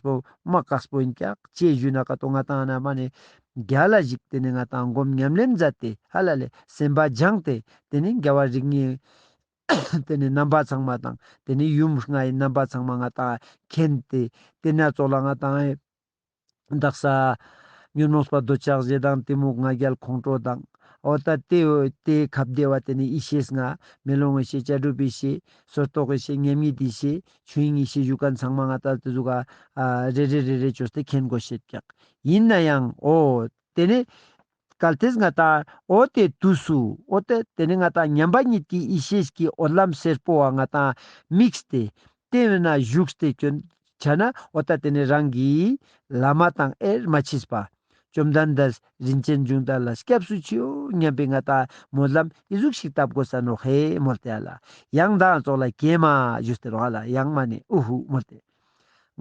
པདྨ་བཀའ་བསྒོས་ཀྱང་ཅེས་བཞུགས་ན་ཀ་ཏོ་ང་དང་ན་མ་ནས་རྒྱ་ལ་བཞུགས་དེ་ནས་ང་དང་སྒོམ་ཉམས་ལེན་མཛད་དེ་ཧ་ལ་ལས་སེམས་པ་སྦྱངས་ཏེ་དེ་ནས་འགལ་བ་རིགས་ལྔའི་དེ་ནས་རྣམ་པ་ཚང་མ་དང་དེ་ནས་ཡུམ་ལྔའི་རྣམ་པ་ཚང་མ་ང་དང་མཁྱེན་ཏེ་དེ་སྣ་ཚོགས་ལ་ང་དང་བདག་ས་ཉོན་མོངས་པ་འདོད་ཆགས་བཞི་དང་གཏི་མུག་ང་རྒྱལ་ཁོང་ཁྲོ་དང་འོ་ད་ལྟའི་འོད་དེ་གབ་བདེ་བ་དེ་ནས་ཡེ་ཤེས་ལྔ་མེ་ལོང་གི་ཤེས་བྱ་གྲུབ་པའི་ཤེས་སོར་རྟོག་གི་ཤེས་མཉམ་ཉིད་དེའི་ཤེས་ཆོས་དབྱིངས་ཡེ་ཤེས་བཞུགས་སྐར་མཚངས་མ་ལྔ་ལྟར་དུ་གཟུགས་རེ་རེ་རེ་རེ་བཅོས་ཏེ་མཁྱེན་དགོས་ཞེས་བཀྱག། ཡིན་ན་ཡང་ཨོ། དེ་ནི། གལ་ཏེ་ང་དང་ཨོ་དེ་དུས་སུ་ཨོ་སྟེ་དེ་ནི་ང་དང་མཉམ་པ་ཉིད་ཀྱི་ཡེ་ཤེས་ཀྱི་ཨོ་ལམ་སེར་པོ་བ་ང་དང་དམིགས་སྟེ། དེ་བས་ན་བཞུགས་ཏེ་སྐྱོན། བྱས་ན་ཨོ་ད་དེ་ནི་རང་གིས། ལ་མ་དང་ཨེར་མ་མཆིས་པ། བཅོམ་ལྡན་འདས་རིན་ཆེན་འབྱུང་ལྟར་ལ་སྐྱབས་སུ་མཆིའོ་སྙམ་པའི་ང་ལྟག་མོ་ལམ་ཨི་གཟུགས་ཤིག་བཏབ་གོ་ས་ནོ་ཧེ་མོ་རྟེ་ཨ་ལ་ཡང་མདངས་རྫོགས་ལ་ཀྱེ་མ་བཞུ་སྟེ་རོ་ཨ་ལ་ཡང་མ་ནི་ཨུ་ཧུ་མོ་རྟེ།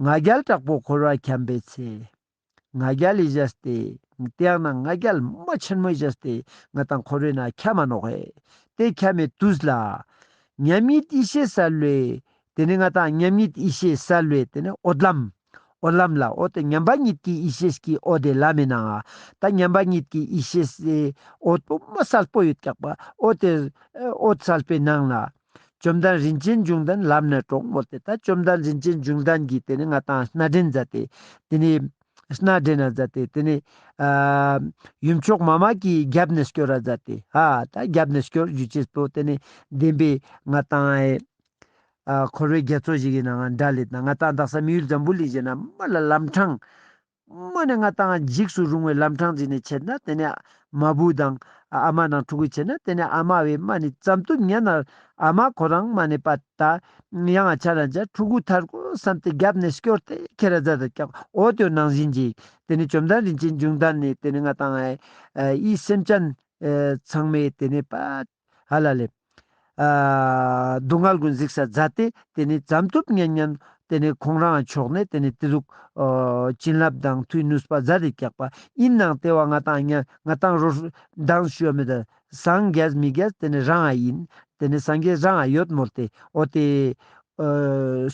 ང་རྒྱལ་དྲག་པོ་འཁོར་བར་འཁྱམས་པའི་ཚེ། ང་རྒྱལ་ལས་བཞད་སྟེ་དེའང་ན་ང་རྒྱལ་མ་ཆེན་མོས་བཞད་སྟེ་ང་དང་འཁོར་བའི་ན་ཁྱ་མ་ནོ་ཧེ་དེ་ཁྱ་མའི་དུས་ལ། མཉམ་ཉིད་ཡེ་ཤེས་སལ་ལོའི་དེ་ནི་ང་དང་མཉམ་ཉིད་ཡེ་ཤེས་སལ་ལོའི་དེ་ནི་ཨོ་དམ། ཨོ་ལམ་ལ་ཨོ་ཏི་མཉམ་པ་ཉིད་ཀྱི་ཡེ་ཤེས་ཀྱི་ཨོ་དེ་ལ་མེད་ནའང་ད་མཉམ་པ་ཉིད་ཀྱི་ཡེ་ཤེས་སའི་ཨོ་དུ་མ་གསལ་པོ་ཡོད་སྐྱག་པ་ཨོ་དེ་ཨོ་གསལ་པའི་ནང་ལ། བཅོམ་ལྡན་རིན་ཆེན་འབྱུང་ལྡན་ལམ་ནས་དྲོངས་མོ་དེ་ལྟར་བཅོམ་ལྡན་རིན་ཆེན་འབྱུང་ལྡན་གྱིས་དེ་ནི་ང་དང་སྣ་སྦྲེལ་མཛད་དེ་དེ་ནི་སྣ་སྦྲེལ་ན་མཛད་དེ་དེ་ནི། ཡུམ་མཆོག་མ་མ་ཀྱིས་རྒྱབ་ནས་སྐྱོར་ར་མཛད་དེ་ཧ་ད་རྒྱབ་ནས་སྐྱོར་རྒྱུ་བྱེད་དོ་དེ་ནི་བདེན་པའི་ང་དང་འཁོར་བའི་རྒྱ་མཚོ་ཞིག་ཡིན་ནའང་འདྲ་ལེ་ད་ང་ཏང་དང་སམ་ཡུལ་འཛམ་བུ་གླིང་ཞེས་ན་མ་ལ་ལམ་འཕྲང། མ་ནས་ང་ཏང་འཇིགས་སུ་རུང་བའི་ལམ་འཕྲང་འཛིན་ནས་བྱེད་ན་དེ་ནས་མ་བུ་དང་ཨ་མ་ནང་འཁྲུག་གི་བྱེད་ན་དེ་ནས་ཨ་མ་བས་མ་ནི་ཙམ་དུ་ཉན་ན་ཨ་མ་ཁོ་རང་མ་ནི་པ་ད་ཡང་ཆ་ན་འཇའ་འཁྲུག་གུ་ཐར་གུ་བསམ་སྟེ་རྒྱབ་ནས་སྐྱོར་ཏེ་ཁྱེད་ར་རྫ་དང་ཀྱང་འོ་དོད་ནང་བཞིན་གྱིས་དེ་ནས་བཅོམ་ལྡན་རིན་ཆེན་འབྱུང་ལྡན་ནས་དེ་ནས་ང་ཏང་ཨའི་སེམས་ཅན་ཚང་མས་དེ་ནས་པ། ཧ་ལ་ལེ། སྡུག་བསྔལ་ཀུན་གཟིགས་ས་བཛྲ་སྟེ་དེ་ནི་བྱམས་སྟོབས་སྙན་སྙན། དེ་ནི་ཁོང་རང་མཆོག་ནི་དེ་ནི་དེ་ལུགས། བྱིན་རླབས་དང་མཐུས་གནུས་པ་བཛྲ་དེ་སྐྱག་པ་དབྱིབས་ནང་ལྟེ་བ་ལྔ་དང་ལྔ་དང་རོ། མདངས་ཞུ་བ་མི་དང། སངས་རྒྱས་མི་རྒྱས་དེ་ནི་རང་ཨ་ཡིན། དེ་ནི་སངས་རྒྱས་རང་ཨ་ཡོད་མོད་དེ་འོ་དེ།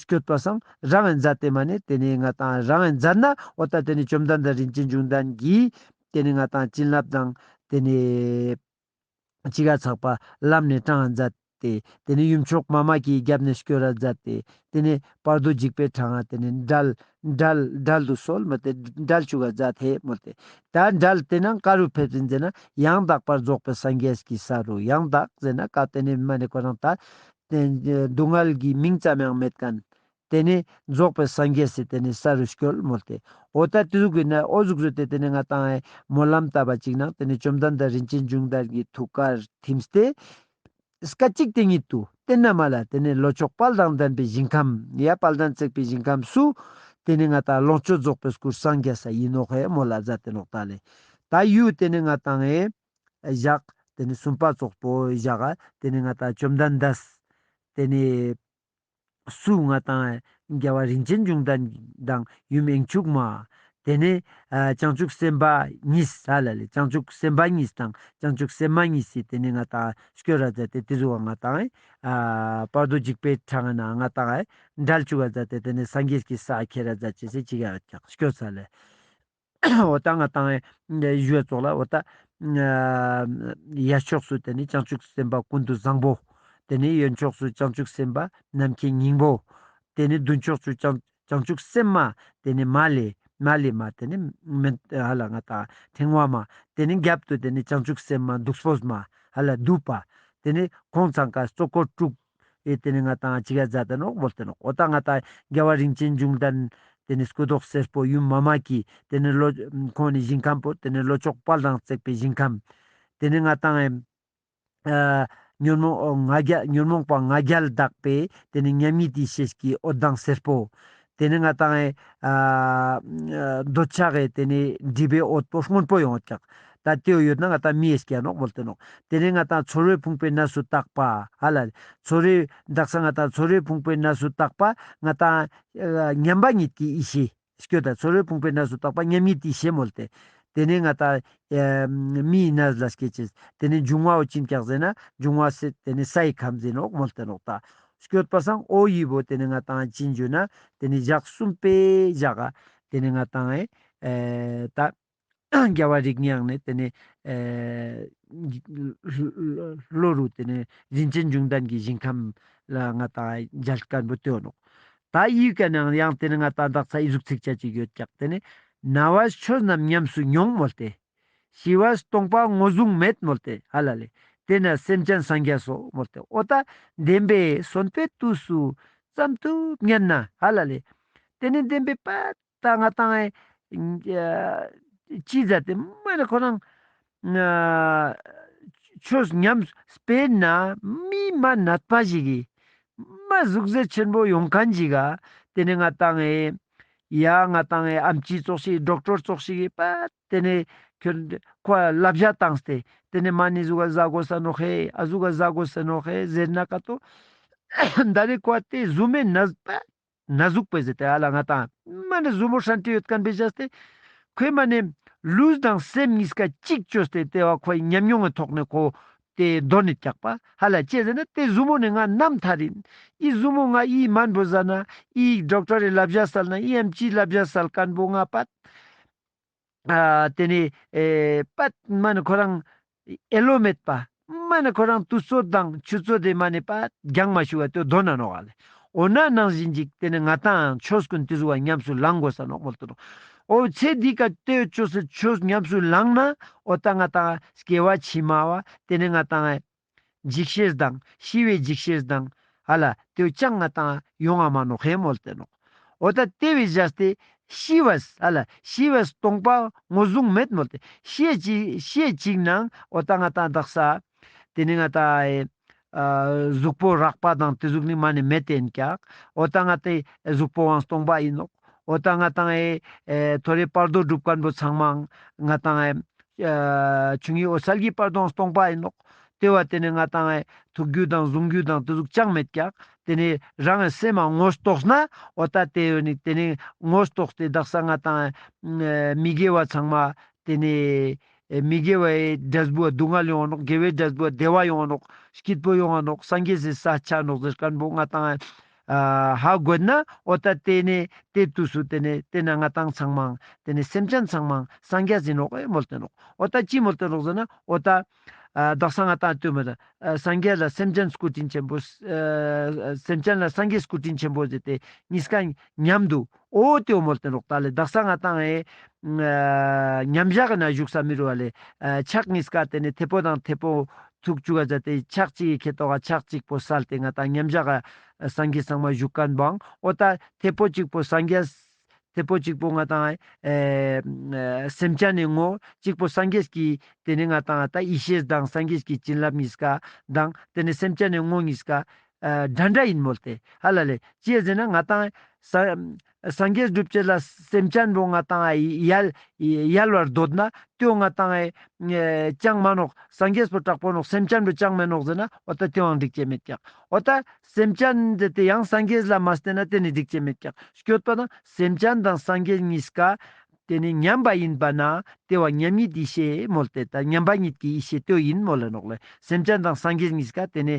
སྐྱོད་པ་སམ་རང་ཨའི་བཛྲ་དེ་མ་ནི་དེ་ནི་ང་དང་རང་ཨའི་བཛྲ་ན་འོ་ད་དེ་ནི་བཅོམ་ལྡན་དང་རིན་ཆེན་འབྱུང་ལྡན་གྱིས། དེ་ནི་ང་དང་བྱིན་རླབས་དང་དེ་ནི། ཅི་ག་ཚགས་པར་བསླབས་ནས་སྐྲངས་ལ་འཛད། དེ་ནས་ཡུམ་མཆོག་དམར་དམག་གིས་རྒྱབ་ནས་བསྐྱོད་ར་མཛད། དེ་ནས་པར་རྡོ་འཇིགས་པའི་གྲང་ངར་དེ་ནས་འགྲལ། འགྲལ། འགྲལ་དུ་སོལ་མི་དེ་འགྲལ་བཅུག་ག་འཛད་དེ་མོ་དེ། ད་འགྲལ་དེ་ནང་ཀ་རུ་ཕེབས་ཏེ་མཛད་ན་ཡང་དག་པར་རྫོགས་པའི་སངས་རྒྱས་ཀྱི་ས་རུ་ཡང་དག་མཛད་ན་ཀ་དེ་ནས་མ་ནེ་ཀོ་རང་ད། སྡུག་བསྔལ་གྱི་མིང་ཙམ་ཡང་མེད་ཀན། དེ་ནས་རྫོགས་པའི་སངས་རྒྱས་སུ་དེ་ནས་ས་རུ་སྐྱོལ་མོ་སྟེ། ཨོ་ད་ཏི་གུ་ནའི་ཨོ་གཟུགས་བཟོས་ཏེ་དེ་ནས་ང་དང་ཨའི་སྨོན་ལམ་བཏབ་པ་ཅིག་ན་དེ་ནས་བཅོམ་ལྡན་འདས་རིན་ཆེན་འབྱུང་ལྟར་གྱི་ཐུགས་ཀར་ཐིམས་ཏེ། སྐད་ཅིག་དེ་ཉིད་དུ་སྟན་ན་མ་ལ་དེ་ནས་ལོ་ཕྱོགས་དཔལ་དང་ལྡན་པའི་ཞིང་ཁམས་ཡ་དཔལ་དང་བརྩེགས་པའི་ཞིང་ཁམས་སུ། དེ་ནས་ང་དང་ལོངས་སྤྱོད་རྫོགས་པའི་སྐུར་སངས་རྒྱས་ས་ཡིན་ནོ་ཧའི་མོ་ལ་བཛྲ་སྟེ་ལོག་ལྟ་ལས། ད་ཡུས་དེ་ནས་ང་དང་ཨའི། བཞག། དེ་ནས་སུམ་པ་ཙོག་པོའི་བཞག། དེ་ནས་ང་དང་བཅོམ་ལྡན་འདས། དེ་ནས། སུའུ་ང་དང་རྒྱལ་བ་རིན་ཆེན་འབྱུང་ལྡན་དང་ཡུམ་དབྱིངས་ཕྱུག་མ། དེ་ནས་བྱང་ཆུབ་སེམས་དཔའ་གཉིས་ཧ་ལ་ལས་བྱང་ཆུབ་སེམས་དཔའ་གཉིས་དང་བྱང་ཆུབ་སེམས་མ་གཉིས་སུ་དེ་ནས་ང་དང་སྐྱོ་ར་མཛད་དེ་དེ་སུ་བ་ང་དང་བར་དོ་འཇིགས་པའི་འཕྲང་ན་ང་དང་འདྲལ་བཅུག་ག་མཛད་དེ་དེ་ནས་སངས་རྒྱས་ཀྱི་ས་ཁྱེད་ར་མཛད་ཅེས་སྐྱོ་ཚ་ལས། འོ་ད་ང་དང་གཞོལ་ཚོགས་ལ་འོ་ད། ཡར་ཕྱོགས་སུ་དེ་ནས་བྱང་ཆུབ་སེམས་དཔའ་ཀུན་ཏུ་བཟང་པོ། དེ་ནས་གཡོན་ཕྱོགས་སུ་བྱང་ཆུབ་སེམས་དཔའ་ནམ་མཁའི་སྙིང་པོ། དེ་ནས་མདུན་ཕྱོགས་སུ་བྱང་ཆུབ་སེམས་མ་དེ་ནས་མ་ལས་མ་ལས་མ་དེ་ནས་མི་ཧ་ལ་ང་དང་ཕྲེང་བ་མ། དེ་ནས་རྒྱབ་ཏུ་དེ་ནས་བྱང་ཆུབ་སེམས་མ་གདུགས་སྤོས་མ་ཧ་ལ་གདུགས་པ། དེ་ནས་གོང་ཚང་ཀ་གཙོ་འཁོར་དྲུག། ཨེ་ཏེ་ནི་ང་དང་ཅི་ག་རྫ་དང་ནོག་བོལ་ཏེ་ནོག་བོ་དང་ང་དང་རྒྱལ་བ་རིན་ཆེན་འབྱུང་དང། དེ་ནི་སྐུ་མདོག་སེར་པོ་ཡུམ་མཱ་མ་ཀི། དེ་ནི་ལོ། ཁོང་ནི་ཞིང་ཁམས་པོ་དེ་ནི་ལོ་ཅོག་དཔལ་དང་བརྩེགས་པའི་ཞིང་ཁམས། དེ་ནི་ང་དང། ཉོན་མོངས་པ་ང་རྒྱལ་དག་པས་དེ་ནི་མཉམ་ཉིད་དེའི་ཞལ་གྱི་འོད་མདངས་སེར་པོ། དེ་ནི་ང་དང་ཨེ། འདོད་ཆགས་ཨེ་དེ་ནི་འདྲིས་པའི་འོད་པོ་སྔོན་པོ་ཡང་ཀྱག། ད་ལྟོས་ཡོད་ན་ང་དང་མིའི་སྐྱེ་ནོག་མོལ་ཏེ་ནོག། དེ་ནི་ང་དང་ཚོར་བས་ཕུང་པོའི་གནས་སུ་བཏགས་པ། ཧ་ལ་ལི། ཚོར་བས། བསྒྲགས་ས་ང་དང་ཚོར་བས་ཕུང་པོའི་གནས་སུ་བཏགས་པ། ང་དང། མཉམ་པ་ཉིད་ཀྱི་ཡེ་ཤེས། སྐྱོ་ད། ཚོར་བས་ཕུང་པོའི་གནས་སུ་བཏགས་པ་མཉམ་ཉིད་དེའི་ཞེས་མོལ་ཏེ། དེ་ནི་ང་དང་ཨེ། མིའི་གནས་ལ་སྐྱེ། དེ་ནི་འབྱུང་བའོ་ཅི་ཀྱག་ཟེ་ན། འབྱུང་བ་སེ་དེ་ནི་ས་ཡི་ཁམས་ཟེ་ནོག་མོལ་ཏེ་ནོག། ད། སྐྱོད་པ་སངས་ཨོ་ཡིས་བོ་དེ་ནི་ང་དང་ཨ་ཅིན་འཇུ་ན་དེ་ནི་བཞག་གསུམ་པས་བཞག་ཨ་དེ་ནི་ང་དང་ཨེ་ད་རྒྱལ་བ་རིགས་ཉག་ནི་དེ་ནི་ལོ་རུ་དེ་ནི་རིན་ཆེན་འབྱུང་ལྡན་གྱི་ཞིང་ཁམས་ལ་ང་དང་ཨེ་འཇལ་སྐལ་བུ་དོན་ནོ། ད་ཨིའི་སྐད་ནའང་ཡང་དེ་ནི་ང་དང་བདག་ཚ་ཨི་གཟུགས་ཚིག་ཆ་གཅིག་ཡོད་ཀྱང་དེ་ནི་ན་བ་ཆོས་རྣམས་ཉམས་སུ་མྱོང་མོད་དེ། ཞི་བ་སྟོང་པ་ངོ་བཟུང་མེད་མོ་སྟེ་ཧ་ལ་ལས་དེ་ན་སེམས་ཅན་སངས་རྒྱ་སོགས་མོ་སྟེ་ཨོ་ད་བདེན་པས་གསོན་པའི་དུས་སུ་ཙམ་དུ་བསྙད་ན་ཧ་ལ་ལས་དེ་ནས་བདེན་པའི་པད་ད་ང་དང་ཨེ་ཅི་ཛ་ཏེ་མ་ནི་ཁོ་རང་ཆོས་ཉམས་སྤེལ་ན་སྨིན་མ་ནད་པ་ཞིག་གིས་མ་གཟུགས་གཟེར་ཆེན་པོ་ཡོང་ག་འཇིག་ག་དེ་ནས་ང་དང་ཨེ། ཡ་ང་བཏང་ཨེ་ཨམ་ཅི་ཙོག་ཤིག་སྒྲོག་ཀྲོར་ཙོག་ཤིག་ཨེ་པཱ། དེ་ནས་ཁྱོད། ཁོ་ཨ་ལབ་བཞག་བཏང་སྟེ། དེ་ནས་མ་ནི་གཟུགས་ཨ་བཟའ་དགོ་ས་ནོ་ཧེ་ཨ་གཟུགས་ཨ་བཟའ་དགོ་སི་ནོ་ཧེ་ཟེར་ན་ཀ་ཏོ། ད་ནི་ཁོ་ཨ་དེ་གཟུགས་མེད་ན་ཟི་པཱ། ན་གཟུགས་པས་ཟི་དེ་ཨ་ལ་ང་བཏང། མ་ནི་གཟུགས་མོ་ཧྲན་ཏི་ཡོད་ཀན་པས་བཞག་སྟེ། ཁོས་མ་ནི། ལུས་དང་སེམས་གཉིས་ཀ་གཅིག་བཅོས་སྟེ་ལྟེ་བ་ཁོ་ཨི་ཉམས་མྱོང་ངི་ཐོག་ནས་ཁོ། ཏེ་རྡོ་ནི་བཀྱག་པ། ཧ་ལ་ཅེས་ཟེར་ན་ཏེ་གཟུགས་མོ་ནི་ང་རྣམ་མཐའ་རིན། ཨི་གཟུགས་མོ་ང་ཨིའི་མན་བུ་ཟ་ན། ཨི་ཡིག་སྒྲོག་ཏྲ་རེ་ལ་བཞག་བསལ་ན་ཨི་ཨམ་ཅིའི་ལ་བཞག་བསལ་ཀན་པོ་ང་པད། དེ་ནི། པད་མ་ནི་ཁོ་རང། ཨེ་ལོ་མེད། པདྨ་ནི་ཁོ་རང་དུ་སྩོལ་དང་ཆུ་སྩོལ་དེ་མ་ནི་པད྄ྱང་མ་ཞུ་བ་ཏེ་རྡོ་ན་ནོག་ཨ་ལས། འོ་ན་ནང་བཞིན་ཅིག་དེ་ནི་ང་དང་ཆོས་ཀུན་ཏེ་གཟུགས་བ་ཉམས་སུ་ལང་དགོས་ས་ནོག་མོ་ཏོ། འོ་ཚེ་འདི་ཀ་ཏེ་ཆོས་སུ་ཆོས་ཉམས་སུ་ལང་ན་འོ་ད་ང་དང་སྐྱེ་བ་ཕྱི་མ་བ་དེ་ནི་ང་དང། འཇིགས་བྱེད་དང་ཤི་བའི་འཇིགས་བྱེད་དང། ཨ་ལ་དེའུ་སྤྱང་ང་དང་ཡོ་ང་མ་ནོ་ཧེ་མོལ་ཏེ་ནོ། འོ་ད་དེ་བས་བཞག་སྟེ། ཤི་བས་ཨ་ལ་ཤི་བས་སྟོང་པ་ངོ་བཟུང་མེད་མོལ་ཏེ། ཤེད་ཅིག་ཤེད་ཅིག་ནང་འོ་ད་ང་དང་བདག་ས། དེ་ནི་ང་དང། གཟུགས་པོ་རགས་པ་དང་དེ་གཟུགས་ནི་མ་ནས་མེད་དེ་ཡིན་ཀྱང་འོ་ད་ང་དེ་གཟུགས་པོ་བའང་སྟོང་པ་ཡིན་ནོ། འོ་ད་ང་དང་ཨེ། ཐོ་རེ་པར་དོ་སྒྲུབ་དཀར་པོ་ཚང་མའང་ང་དང་ཨེ། བྱུང་ཡིན་འོ་སལ་གྱི་པར་དོའང་སྟོང་པ་ཡིན་ནོ། དེ་བ་དེ་ནི་ང་དང་ཨེ། ཐུགས་རྒྱུད་དང་གཟུང་རྒྱུད་དང་དེ་གཟུགས་ཅང་མེད་ཀྱང་དེ་ནི་རང་ཨེ་སེམས་མའང་ངོ་རྟོགས་ན་འོ་ད་དེ་བས་ནི་དེ་ནི་ངོ་རྟོགས་ཏེ་བདག་ས་ང་དང་ཨེ། མི་དགེ་བ་ཚང་མ་དེ་ནི། མི་དགེ་བའི་སྒྲིབ་པ་སྡུག་བསྔལ་ཡོང་བ་ནོག་དགེ་བའི་སྒྲིབ་པ་བདེ་བ་ཡོང་བ་ནོག་སྐྱིད་པོ་ཡོང་བ་ནོག་སངས་རྒྱས་སུ་ས་ཆ་ནོག་ཟེར་སྐལ་བོ་ལྔ་དང། ཧ་དགོད་ན་ཨོ་ད་དེ་ནས་དེ་དུས་སུ་དེ་ནས་དེ་ན་ང་དང་ཚང་མང་དེ་ནས་སེམས་ཅན་ཚང་མང་སངས་རྒྱས་ཟིན་ནོག་ཨེ་མོལ་ཏེ་ནོག་ཨོ་ད་ཅི་མོལ་ཏེ་ནོག་ཟེར་ན་ཨོ་ད། བདག་སང་ང་དང་དུས་མི་དང་སངས་རྒྱས་ལ་སེམས་ཅན་སྐུ་དྲིན་ཆེན་པོ། སེམས་ཅན་ལ་སངས་རྒྱས་སྐུ་དྲིན་ཆེན་པོ་ཟེར་ཏེ་གཉིས་ཀ་མཉམ་དུ་ཨོ་ཏོ་མོལ་ཏན་རོགས་ཏཱ་ལའི་རྡག་ས་ང་དང་ཨེ། མཉམ་བཞག་གི་ན་བཞུགས་ས་མི་རུ་བ་ལས་ཕྱག་གཉིས་སྐ་སྟེ་ནས་ཐེ་པོ་དང་ཐེ་པོ་ཚུགས་བཅུ་ག་ཅའ་ཏེ་ཕྱག་གཅིག་ཡི་གེ་ཏོག་ག་ཕྱག་གཅིག་པོ་སལ་ཏེ་ང་དང་མཉམ་བཞག་གི་སངས་རྒྱས་གསང་མ་བཞུགས་ག་འབངས་ཨོ་ཏཱ་ཐེ་པོ་གཅིག་པོ་སངས་རྒྱས། ཐེ་པོ་གཅིག་པོ་ང་དང་ཨེ། སེམས་ཅན་ནས་ངོ་གཅིག་པོ་སངས་རྒྱས་ཀྱི་དེ་ནས་ང་དང་ཨ་ཏཱ་ཡེ་ཤེས་སྡང་སངས་རྒྱས་ཀྱི་བྱིན་རླབས་གཉིས་སྐ་སྡང་དེ་ནས་སེམས་ཅན་ནས་ངོ་གཉིས་སྐ། འདྲ་འདྲ་ཡིན་མོད་དེ་ཧ་ལ་ལས། ཅེས་ཟེར་ན་ང་དང། སངས་རྒྱས་སྒྲུབ་བྱེད་ལ་སེམས་ཅན་པོ་ང་དང་ཡལ། ཡལ་བར་འདོད་ན་ལྟོས་ང་དང། ཅང་མ་ནོག་སངས་རྒྱས་སུ་གྲགས་པོ་ནོག་སེམས་ཅན་པོ་ཅང་མི་ནོག་ཟེར་ན་འོ་ད་དེའང་འགྲིག་བྱེད་མེད་ཀྱང། འོ་ད། སེམས་ཅན་འདི་དེ་ཡང་སངས་རྒྱས་ལ་མ་བསྟན་ན་དེ་ནི་འགྲིག་བྱེད་མེད་ཀྱང་སྐྱོད་པ་ན་སེམས་ཅན་དང་སངས་རྒྱས་གཉིས་ཀ། དེ་ནི་མཉམ་པ་ཡིན་པ་ན་དེ་བ་མཉམ་ཉིད་ཡེ་ཤེས་མོད་དེ་ལྟར་མཉམ་པ་ཉིད་ཀྱི་ཡེ་ཤེས་ལྟོས་ཡིན་མོད་ལ་ནོག་ལས་སེམས་ཅན་དང་སངས་རྒྱས་གཉིས་ཀ་དེ་ནི།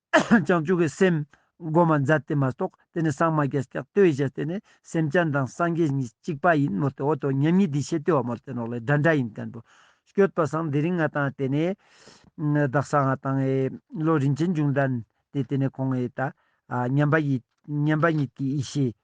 བྱང་ཆུབ་ཀྱི་སེམས། སྒོ་མ་འཛད་དེ་མ་གཏོགས་དེ་ནི་སངས་མ་རྒྱས་སྐྱབས་ལྟོས་ཞེས་དེ་ནི་སེམས་ཅན་དང་སངས་རྒྱས་གཉིས་གཅིག་པ་ཡིན་མོད་དེ་འོ་དོ་མཉམ་ཉིད་འདི་ཤེས་ལྟོས་བ་མོར་དེ་ནོག་ལེ་སྒྲ་འདྲ་ཡིན་བསྟན་པོ། སྐྱོད་པ་སངས་དེ་རིང་ང་དང་དེ་ནི། བདག་སངས་ང་དང་ཨེ། བློ་རིན་ཆེན་འབྱུང་ལྡན་དེ་དེ་ནི་ཁོང་ཨེ་ད། མཉམ་པ་ཉིད་ཀྱི་ཡེ་ཤེས།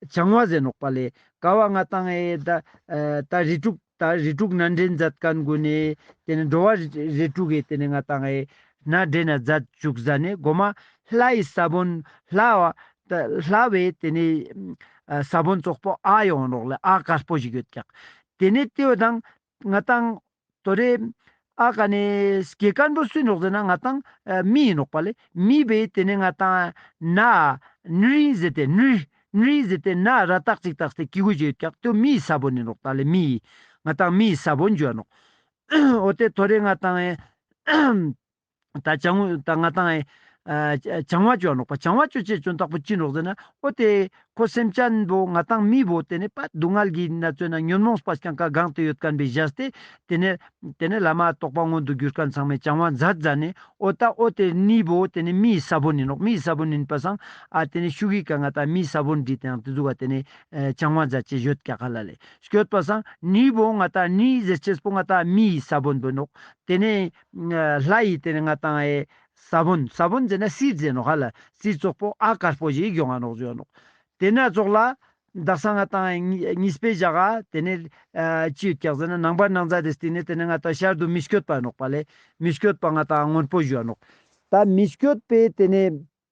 བྱང་བ་ཟན་ལོག་པ་ལས་ཀ་བ་ལྔ་དང་ཨེ་ད་ད་རེ་དྲུག་ད་རེ་དྲུག་སྣ་འདྲེན་འཛད་དཀར་མགོ་ནས་དེ་ནས་འགྲོ་བ་རེ་དྲུག་ཨེ་དེ་ནས་ལྔ་དང་ཨེ་སྣ་འདྲེན་ན་འཛད་བཅུ་གཟའ་ནས་སྒོ་མ་ལྷ་ཡི་ས་བོན་ལྷ་བ་ད་ལྷ་བས་དེ་ནས་ས་བོན་ཙོག་པོ་ཨ་ཡོང་རོགས་ལ་ཨ་དཀར་པོ་ཞིག་ཡོད་ཀྱང་དེ་ནས་ཏེའུ་དང་ང་དང། དོ་རེ། ཨ་ཀ་ནི། གེ་དཀར་འབྲུ་སུས་ནོག་ཟེར་ན་ང་དང། མི་ཡིས་ནོག་པ་ལས། མི་བས་དེ་ནི་ང་དང། ན། ནུ་རིའི་ཟེར་ཏེ་ནུ། ནུ་རིའི་ཟེར་ཏེ་ན་ར་ཏག་ཅིག་ཏག་སྟེ་ཀི་གུ་ཇེ་ཀྱག་ཏོ་མི་ཡིས་ས་བོ་ནི་ནོག་ཏག་ལས་མི་ཡིས། ང་དང་མི་ཡིས་ས་བོ་འཇུ་བ་ནོག། ཨོ་དེ་དོ་རེ་ང་དང། བྱང་བ་ཅོ་ནོག་པ་བྱང་བ་ཅོ་ཅེས་བྱོན་རྟག་པོ་ཅི་ནོག་ཟེར་ན་ཨོ་སྟེ། ཁོ་སེམས་ཅན་བོ་ང་དང་མི་བོ་དེ་ནི་པ་སྡུག་བསྔལ་གྱིས་ན་བཙོས་ན་ཉོན་མོངས་པ་རྐྱང་ཁ་གང་དུ་ཡོད་དཀན་པའི་གཞལ་ཏེ། དེ་ནས་དེ་ནས་ལ་མ་རྟོགས་པ་མངོན་དུ་གྱུར་ཁར་མཚང་མའི་བྱང་བ་འཛར་འཛར་ནས་ཨོ་ད་ཨོ་དེ་ནི་བོ་དེ་ནི་མིའི་ས་བོ་ནི་ནོག་མིའི་ས་བོ་ནི་པ་སངས་ཨ་དེ་ནི་ཤུགས་ཡིག་ག་ང་དང་མིའི་ས་བོ་འདྲིས་དེའང་དུ་འཛུགས་བ་དེ་ནི་བྱང་བ་འཛར་ཅེས་བཞོད་རྒྱ་གར་ལ་ལས་བསྐྱོད་པ་སངས་ནི་བོ་ང་དང་ནི་ཟེར་ཆེས་པོ་ང་དང་མིའི་ས་བོ་འདོད་ནོག་དེ་ནི། ལྷ་ཡི་དེ་ནས་ང་དང་ཨའི། ས་བོན་ས་བོན་ཟེར་ན་སྲིད་རྩེ་ནོག་ཧ་ལ་སྲིད་བཙོག་པོ་ཨ་དཀར་པོ་བཞི་གྱོང་ཨ་ནོག་བརྗོད་ཨ་ནོག། དེ་ནས་བཙོག་ལ། འདག་ས་ང་དང་ཨའི་གཉིས་སྤེལ་བཞག་ཨ་དེ་ནས། ཅི་ཡོད་བཀྱག་ཟེར་ན་ནང་པ་ནང་རྫ་དེ་སྟེང་ནས་དེ་ནས་ང་དང་ཤར་དུ་མི་བསྐྱོད་པ་ཨ་ནོག་པ་ལས་མི་བསྐྱོད་པ་ང་དང་ཨ་སྔོན་པོ་བཞི་ཨ་ནོག། ད་མི་བསྐྱོད་པའི་དེ་ནས།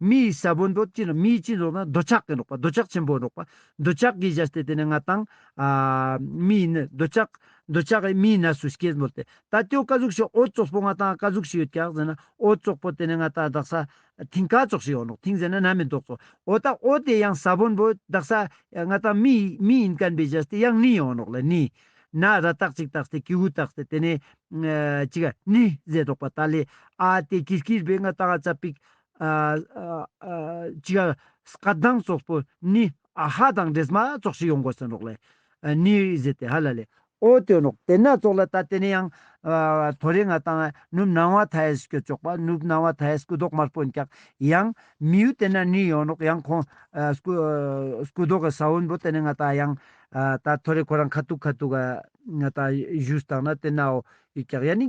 མི་ཡི་ས་བོན་དུ་ཅི་མི་ཡི་ཅི་འདོགས་ན་འདོད་ཆགས་ཀྱི་འདོགས་པ་འདོད་ཆགས་ཆེན་པོ་འདོགས་པ་འདོད་ཆགས་ཀྱི་གཞལ་ཏེ་དེ་ནས་ང་དང། མི་ཡི་ནི་འདོད་ཆགས་འདོད་ཆགས་ཀྱི་མི་ཡི་ན་སུ་སྐྱེས་འབོད་དེ། ད་ཏོའི་བཀའ་ཟུགས་ཤིག་ཨོ་ཙོག་པོ་ང་དང་བཀའ་ཟུགས་ཤིག་ཡོད་ཀྱང་ཟེར་ན་ཨོ་ཙོག་པོ་དེ་ནས་ང་དང་བདག་ས་མཐིང་བཀའ་ཙོག་ཤིག་ཡོང་འདོགས་མཐིང་ཟེར་ན་ན་མི་འདོགས་ཙོག་ཨོ་ད་ཨོ་དེ་ཡང་ས་བོན་འབོད་བདག་ས་ང་དང་མི་ཡི་མི་ཡིན་ཀན་པའི་གཞལ་ཏེ་ཡང་ནི་ཡོང་འདོགས་ལ་ནི། ན་ར་རྟགས་ཅིག་བཏགས་ཏེ་ཀིའུ་བཏགས་ཏེ་དེ་ནས། ཅིག་ནི་ཟེར་འདོགས་པ་ད་ལས་ཨ་དེ་ཀིར་ཀིར་བས་ང་དང་ཨ་ཙ་པིག་གཅིག། སྐལ་ལྡན་ཚོགས་པོ་ནི་ཨ་ཧ་དང་འདྲེས་མ་ཚོགས་ཤིག་ཡོང་དགོས་ཟེར་རོགས། ལས་ནི་བཟོས་ཏེ་ཧ་ལ་ལས། ཨོ་དོན་རོགས་དེ་སྣ་ཚོགས་ལ་ད་དེ་ནས་ཡང། ཐོ་རེ་ང་དང་ནུབ་སྣང་བ་ཐ་ཡས་སྐྱོ་ཅོག་པ་ནུབ་སྣང་བ་ཐ་ཡས་སྐུ་མདོག་དམར་པོ་འཁྱག་ཡང། མི་ཡུལ་དེ་ན་ནི་ཡོང་རོགས་ཡང་ཁོང། སྐུ་མདོག་གི་ས་བོན་པོ་དེ་ནས་ང་དང་ཡང། ད་ཐོ་རེ་ཁོ་རང་ཁ་ཐུག་ཁ་ཐུག། ང་དང་བཞུགས་སྟངས་ན་དེ་ནའོ། ཡིག་འཁྱག་ཡ་ནི།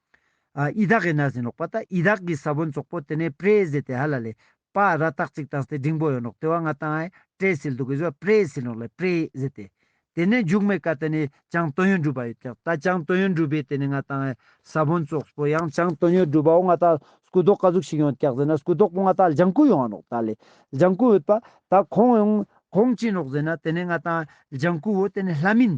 ཨི་དག་གི་ན་ཟིན་ལོག་པ་ད་ཨི་དག་གི་ས་བོན་ཙོག་པོ་དེ་ནས་པྲེ་ཟེ་དེ་ཧ་ལ་ལས་པ་ར་ཏག་ཙིག་ཏང་སྟེ་འབྲིང་པོ་ཡོད་ནོག་དེ་བ་ང་ཏང་ཨའི་པྲེ་སིལ་དུ་གི་ཟོ་པྲེ་སིལ་ནོག་ལས་པྲེ་ཟེ་དེ་དེ་ནས་འཇུག་མེ་ཀ་དེ་ནས་ཅང་ཏོ་ཡོན་འགྲུལ་པ་ཡོད་ཀྱག་ད་ཅང་ཏོ་ཡོན་འགྲུལ་པའི་དེ་ནས་ང་ཏང་ཨའི་ས་བོན་ཙོག་པོ་ཡང་ཅང་ཏོ་ཡོན་འགྲུལ་པའོ་ང་ད་སྐུ་དོག་ཀ་ཟུག་ཤིག་ཡོང་ཀྱག་ཟེ་ན་སྐུ་དོག་པོ་ང་ད་ལྗང་ཀུ་ཡོང་བ་ནོག་ད་ལས་ལྗང་ཀུ་ཡོད་པ་ད་ཁོང་ཡོང་ཁོང་ཅི་ནོག་ཟེ་ན་དེ་ནས་ང་ཏང་ཨའི་ལྗང་ཀུ་བོ་དེ་ནས་ལྷ་མིན་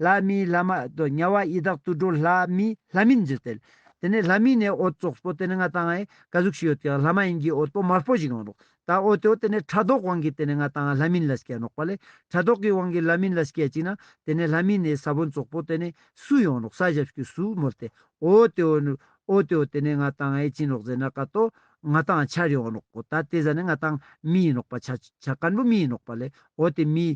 ལྷ་མིའི་བླ་མ་དོ་དམྱལ་བ་ཡི་དྭགས་དུད་འགྲོ་ལྷ་མིའི་ལྷ་མིན་འཛིན་ཏེ། དེ་ནས་ལྷ་མིན་ནས་འོ་ཙོགས་པོ་དེ་ནས་ང་དང་ཨའི་ཀ་གཟུགས་ཤིག་ཡོད་དེའང་ལྷ་མ་ཡིན་གྱིས་འོ་ཏོ་དམར་པོ་ཞིག་ཡོང་རོགས་དང་འོ་ཏོ་དེ་ནས་ཁྲ་དོག་དབང་གིས་དེ་ནས་ང་དང་ཨ་ལྷ་མིན་ལ་སྐྱེ་རོགས་པ་ལས་ཁྲ་དོག་གི་དབང་གིས་ལྷ་མིན་ལ་སྐྱེ་ཅིག་ན་དེ་ནས་ལྷ་མིན་ནས་ས་བོན་ཙོགས་པོ་དེ་ནས་སུ་ཡོང་རོགས་ས་ཞབས་ཀྱི་སུ་མོར་དེ་འོ་ཏོ་ནས་འོ་ཏོ་དེ་ནས་ང་དང་ཨའི་བྱིན་རོགས་ཟེར་ན་ཀ་ཏོ་ང་དང་ཆར་ཡོང་རོགས་གོ་ད་དེ་ཟ་ནས་ང་དང་མི་ཡིན་རོགས་པ་ཆ་ཆ་སྐར་འབུ་མི་ཡིན་རོགས་པ་ལས་འོ་དེ་མི